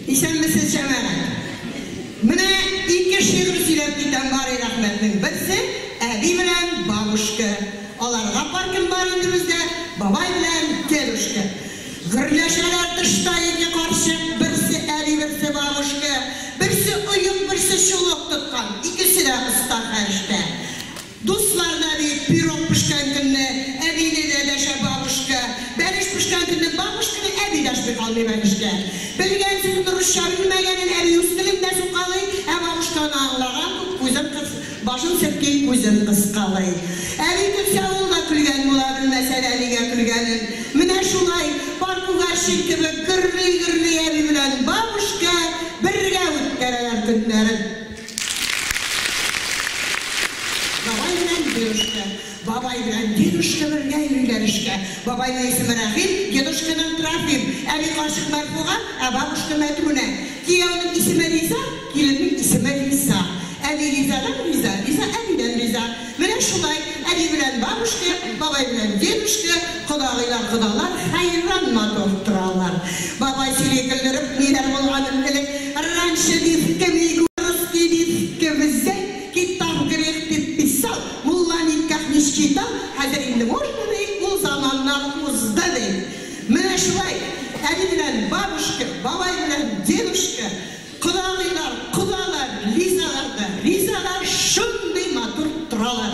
Исәнмесез, җәмәгать! Менә ике шигырь сөйләп китәм бары рәхмәтнең берсе, әби белән бабушка. Аларга пар кем бар инде бездә, бабай белән дедушка. Гөрләшәләр тышта ике карчык, берсе әби, берсе бабушка. Берсе оек, берсе чулык тоткан, икесе дә оста фәрештә. Дуслар да бит пирог пешкән көнне әбине дә дәшә бабушка, бәлеш пешкән көнне бабушканы әби дәшми калмый бәлешкә. Белгән сүзен русча белмәгәнен әби үз телендә сукалый, ә бабушка аны аңлаган күк күзен кыс, башын селки, күзен кыскалый. Әби көлсә ул да көлгән була, белмәсә дә нигә көлгәнен. Менә шулай, пар күгәрчен кебек, гөрли-гөрли әби белән бабушка бергә үткәрәләр көннәрен. Бабай белән дедушка. Бабай белән дедушка бергә йөриләр эшкә. Бабайның исеме Рәхим, дедушканың Трофим. Әби карчык Мәрфуга, ә бабушка Мәдүнә. Кияүнең исеме Риза, киленнең исеме Лиза. Әби Лизадан риза, Лиза әбидән риза. Менә шулай, әби белән бабушка, бабай белән дедушка, кодагыйлар, кодалар хәйран матур торалар. Бабай сөйли көлдереп, ниләр булганын элек раньше диске, мигурский диске, бездә китап грех дип писал, мулла никах не считал, хәзер инде можно, ди, ул заманнар узды, ди. Менә шулай, әби белән бабушка, бабай белән дедушка, Кодагыйлар, кодалар, ризалар да ризалар, шундый матур торалар.